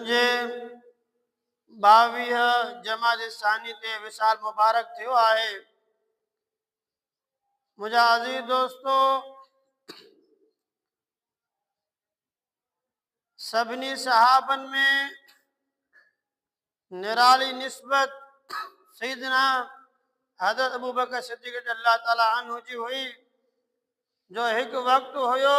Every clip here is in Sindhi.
جي ٻاويهه جمادي الثاني تي وصال مبارڪ ٿيو آهي منهنجا عزيز دوستو سڀني صحابن ۾ نرالي نسبت سيدنا حضرت ابو بکر صديق رضي الله تعاليٰ عنه جي هئي جو هڪ وقت هيو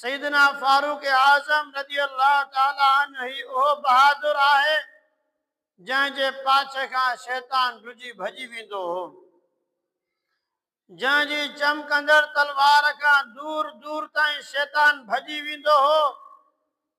سيدنا فاروق اعظم رضي الله تعالٰي عنه ئي اهو بهادر آهي، جنهن جي پاڇي کان شيطان ڊڄي ڀڄي ويندو هو، جنهن جي چمڪندڙ تلوار کان دور دور تائين شيطان ڀڄي ويندو هو،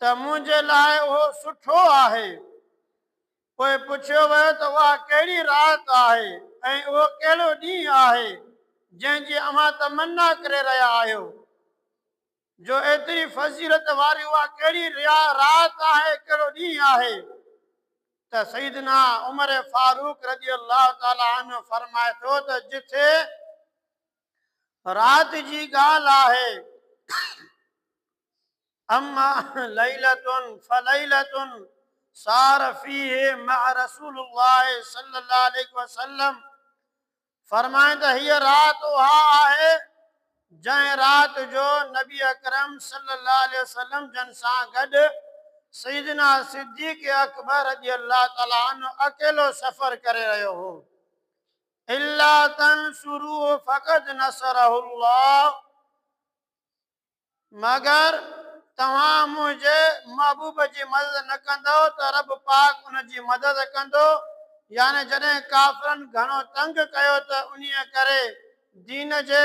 ته منهنجي لاء اهو سٺو آهي. پوء پڇيو ويو ته اها ڪهڙي رات آهي ۽ اهو ڪهڙو ڏينهن آهي جنهن جي اوهان تمنا ڪري رهيا آهيو جو ايتري فضيلت واري اها ڪهڙي رات آهي ڪهڙو ڏينهن آهي ته سيدنا عمر فاروق رضي الله تعالي عنه فرمائي ٿو ته جٿي رات جي ڳالهه آهي اما ليلة فليلة سار فيه مع رسول الله صلي الله عليه وسلم فرمائن ته هيء رات اها آهي جنهن رات جو نبي اڪرم صلي الله عليه وسلم جن سان گڏ سيدنا صديق اڪبر رضي الله تعالي عنه اڪيلو سفر ڪري رهيو هو الا تنصروه فقد نصره الله مگر توهان منهنجي محبوب جي مدد نه ڪندؤ ته رب پاڪ ان جي مدد ڪندو، يعني جڏهن ڪافرن گهڻو تنگ ڪيو ته انهيء ڪري دين جي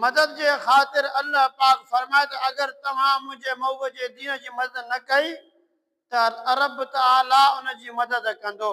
مدد جي خاطر الله پاڪ فرمائي ته اگر توهان منهنجي محبوب جي دين جي مدد نه ڪئي ته رب تعاليٰ ان جي مدد ڪندو.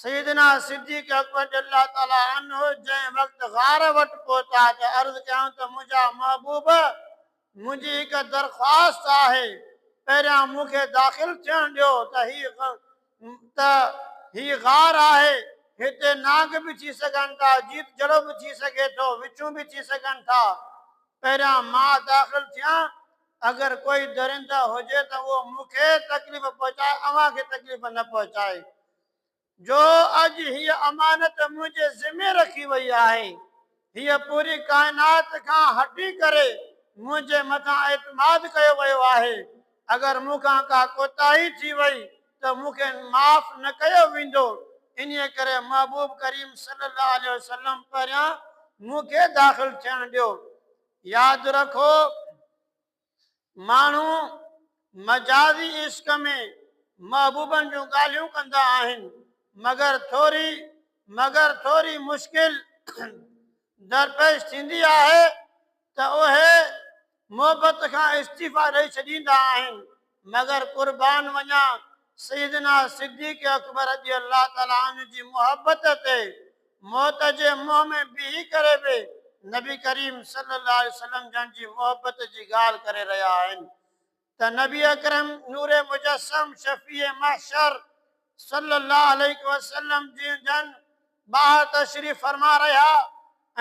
سيدنا صديق اڪبر رضي الله تعالٰي عنه جنهن وقت غار وٽ پهتا ته عرض ڪيائون ته منهنجا محبوب! منهنجي هڪ درخواست آهي، پهريان مون کي داخل ٿيڻ ڏيو ته هي ته هي غار آهي، هتي نانگ به ٿي سگهن ٿا، جيت جهڙو به ٿي سگهي ٿو، وڇون به ٿي سگهن ٿا، پهريان مان داخل ٿيان، اگر ڪوئي درنده هجي ته اهو مون کي تڪليف پهچائي، اوهان کي تڪليف نه پهچائي. جو اڄ هيء امانت منهنجي ذمي رکي وئي آهي. هيء پوري ڪائنات کان هٽي ڪري منهنجي مٿان اعتماد ڪيو ويو آهي. اگر مون کان ڪا ڪوتاهي ٿي وئي ته مون کي معاف نه ڪيو ويندو. انهيء ڪري محبوب ڪريم صلي الله عليه وسلم پهريان مون کي داخل ٿيڻ ڏيو. ياد رکو! ماڻهو مجازي عشق ۾ محبوبن جون ڳالهيون ڪندا آهن مگر ٿوري مگر ٿوري مشڪل درپيش ٿيندي آهي ته اهي محبت کان استعيفا ڏئي ڇڏيندا آهن مگر قربان وڃان سيدنا صديق اڪبر رضي الله تعالٰي عنه جي محبت تي موت جي منهن ۾ بيهي ڪري به نبي ڪريم صلي الله عليه وسلم جن جي محبت جي ڳالهه ڪري رهيا آهن ته نبي اڪرم نور مجسم شفيع محشر صلي الله عليه وسلم جي جن ٻاهر تشريف فرما رهيا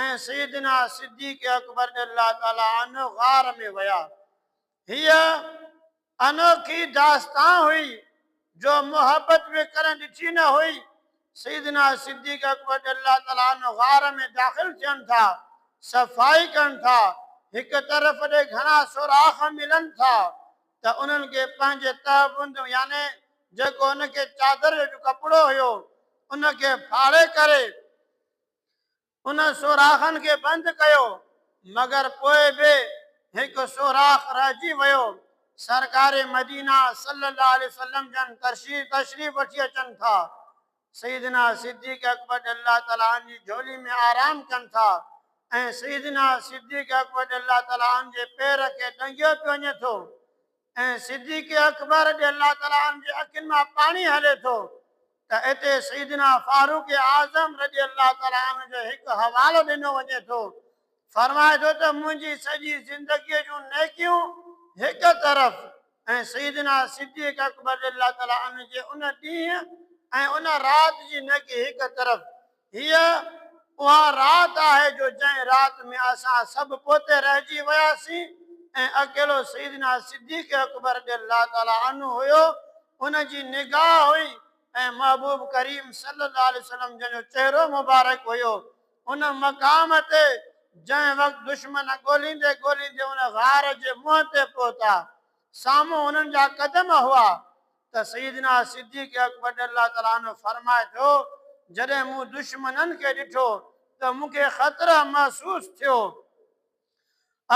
۽ سيدنا صديق اڪبر رضي الله تعالٰي عنه غار ۾ ويا هيء انوکي داستان هئي جو محبت به ڪڏهن ڏٺي نه هئي. سيدنا صديق اڪبر رضي الله تعالٰي عنه غار ۾ داخل ٿين ٿا، صفائي ڪن ٿا، هڪ طرف ڏي گهڻا سوراخ ملن ٿا ته انهن کي پنهنجي تهبند يعني جيڪو ان کي چادر جو ڪپڙو هيو ان کي ڦاڙي ڪري ان سوراخن کي بند ڪيو مگر پوء به هڪ سوراخ رهجي ويو، سرڪار مدينه صلّي اللّٰه عليه وسلّم جن تشريف تشريف وٺي اچن ٿا، سيدنا صدّيق اڪبر رضي الله تعالٰي عنه جي جهولي ۾ آرام ڪن ٿا ۽ سيدنا صدّيق اڪبر رضي الله تعالٰي عنه جي پير کي ڏنگيو پيو وڃي ٿو، ۽ صديق اڪبر رضي الله تعالٰي عنه جي اکين مان پاڻي هلي ٿو ته اتي سيدنا فاروق اعظم رضي الله تعالٰي عنه جو هڪ حوالو ڏنو وڃي ٿو فرمائي ٿو ته منهنجي سڄي زندگيء جون نيڪيون هڪ طرف ۽ سيدنا صديق اڪبر رضي الله تعالٰي عنه جي ان ڏينهن ۽ ان رات جي نيڪي هڪ طرف هيء اها رات آهي جو جنهن رات ۾ اسان سڀ پوئتي رهجي وياسين ۽ اڪيلو سيدنا صديق اڪبر رضي الله تعاليٰ عنه هيو، ان جي نگاهه هئي ۽ محبوب ڪريم صلي الله عليه وسلم جن جو چهرو مبارڪ هيو. ان مقام تي جنهن وقت دشمن ڳوليندي ڳوليندي ان غار جي منهن تي پهتا، سامهون هنن جا قدم هئا، ته سيدنا صديق اڪبر رضي الله تعالٰي عنه فرمائي ٿو، جڏهن مون دشمنن کي ڏٺو ته مون کي خطره محسوس ٿيو.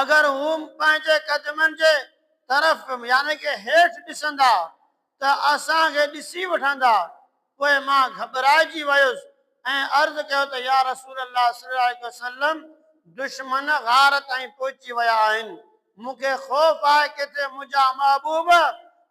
اگر هو پنهنجي قدمن جي طرف يعني ڪه هيٺ ڏسندا ته اسان کي ڏسي وٺندا. پوء مان گهٻرائجي ويس ۽ عرض ڪيو ته يا رسول الله صلي الله عليه وسلم دشمن غار تائين پهچي ويا آهن. مون کي خوف آهي ڪٿي منهنجا محبوب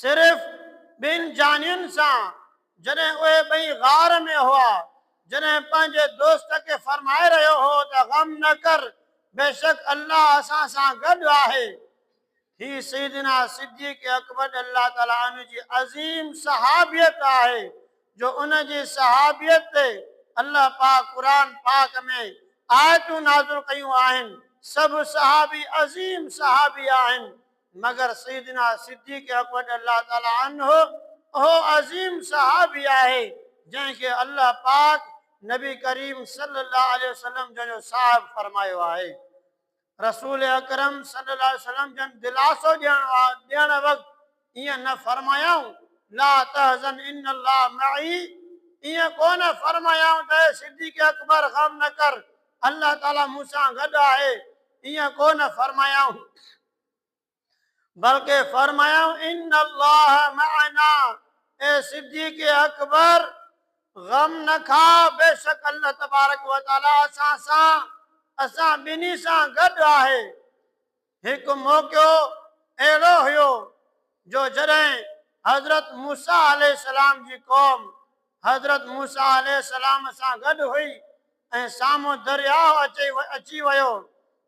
صرف ٻن جانين سان جڏهن اهي ٻئي غار ۾ هئا، جڏهن پنهنجي دوست کي فرمائي رهيو هو ته غم نه ڪر بيشڪ الله اسان سان گڏ آهي. هي سيدنا صديق اڪبر رضي الله تعالٰي عنه جي عظيم صحابيت آهي جو ان جي صحابيت تي الله پاڪ قرآن پاڪ ۾ آيتون نازل ڪيون آهن. سڀ صحابي عظيم صحابي آهن مگر سيدنا صديق اڪبر رضي الله تعالٰي عنه اهو عظيم صحابي آهي جنهن کي الله پاڪ نبي ڪريم صلي الله عليه وسلم جن جو صاحب فرمايو آهي. رسول اڪرم صلي الله عليه وسلم جن دلاسو ڏيڻ وقت ائين نه فرمايائون لا تحزن ان الله معي ائين ڪو نه فرمايائون ته اي صديق اڪبر غم نه ڪر الله تعالٰي مون سان گڏ آهي ائين ڪو نه فرمايائون بلڪه فرمايائون ان الله معنا اي صديق اڪبر غم نه کاء بيشڪ الله تبارڪ وتعالي اسان سان اسان ٻنهي سان گڏ آهي هڪ موقعو اهڙو هيو جو جڏهن حضرت موسا عليه السلام جي قوم حضرت موسا عليه السلام سان گڏ هئي ۽ سامهون درياهه اچي ويو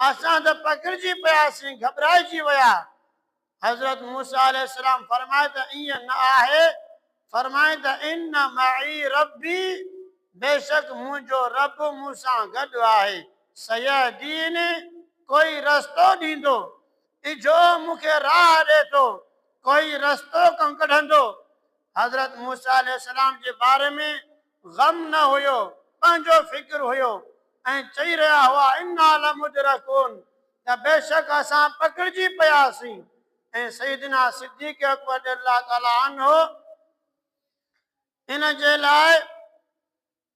اسان ته پکڙجي پياسين، گهٻرائجي ويا. حضرت موسيٰ عليه السلام فرمائي ته ائين نه آهي، فرمائي ته ان معي ربي، بيشڪ منهنجو رب مون سان گڏ آهي، سيهدين، ڪوئي رستو ڏيندو، اجهو مون کي راهه ڏي ٿو، ڪوئي رستو ڪنڪڍندو. حضرت موسيٰ عليه السلام جي باري ۾ غم نه هيو پنهنجو فڪر هيو ۽ چئي رهيا هئا انا لمدرڪون ته بيشڪ اسان پڪڙجي پياسين ۽ سيدنا صديق اڪبر رضي الله تعالٰي عنه ان جي لاء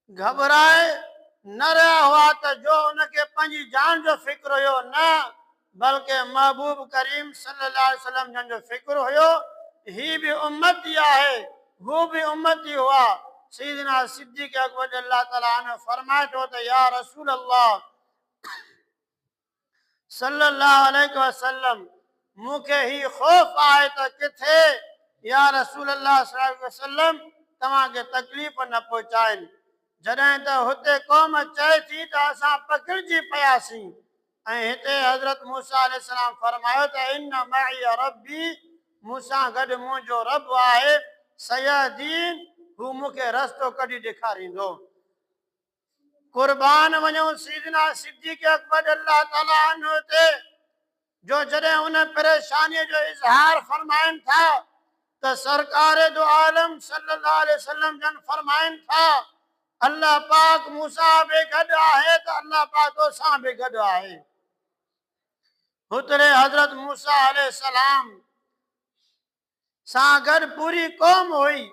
گهٻرائي نه رهيا هئا ته جو ان کي پنهنجي جان جو فڪر هيو نه بلڪه محبوب ڪريم صلي الله عليه وسلم جن جو فڪر هيو ته هي به امت ئي آهي، هو به امت ئي هئا. سيدنا صديق اڪبر رضي الله تعالٰي عنه فرمائي ٿو ته يا رسول الله صلي الله عليه وسلم مون کي هي خوف آهي ته ڪٿي يا رسول الله صلي الله عليه وسلم توهان کي تڪليف نه پهچائين. جڏهن ته هتي قوم چئي ٿي ته اسان پکڙجي پياسين ۽ هتي حضرت موسيٰ عليه السلام فرمايو ته ان معي ربي، مون سان گڏ منهنجو رب آهي، سيهدين، هو مون کي رستو ڪڍي ڏيکاريندو. قربان وڃون سيدنا صديق اڪبر الله تعاليٰ عنه تي جو جڏهن ان پريشانيء جو اظهار فرمائن ٿا ته سرڪار دو عالم صلي الله عليه وسلم جن فرمائن ٿا الله پاڪ مون سان به گڏ آهي ته الله پاڪ تو سان به گڏ آهي. هتڙي حضرت موسيٰ عليه السلام سان گڏ پوري قوم هئي،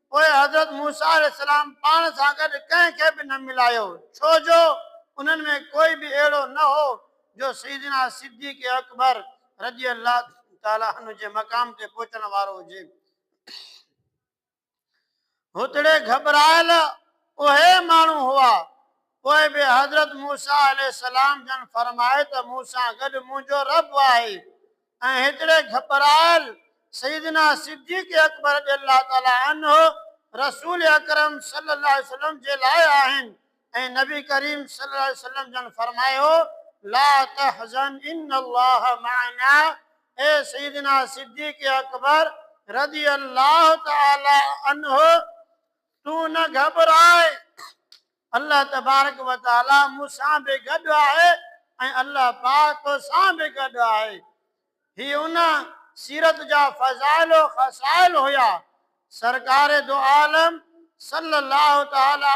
پوء حضرت موسيٰ عليه السلام پاڻ سان گڏ ڪنهن کي به نه ملايو، ڇو جو انهن ۾ ڪوئي به اهڙو نه هو جو سيدنا صديق اڪبر رضي الله تعالٰي عنه جي مقام تي پهچڻ وارو هجي. هتڙي گهٻرايل اهي ماڻهو هئا. پوء به حضرت موسيٰ عليه السلام جن فرمايو ته مون سان گڏ منهنجو رب آهي ۽ هتڙي گهٻرايل سيدنا صديق اڪبر رضي الله تعالٰي عنه رسول اڪرم صلّي الله عليه وسلّم جي لاء آهن. ۽ نبي ڪريم صلي الله عليه وسلم جن فرمايو، لا تحزن ان الله معنا اي سيدنا صديق اڪبر رضي الله تعالي عنه تون نه گهٻراء الله تبارڪ وتعالي مون سان به گڏ آهي ۽ الله پاڪ تو سان به گڏ آهي هي ان سيرت جا فضائل و خصائل هيا سرڪار دو عالم صلي الله تعالي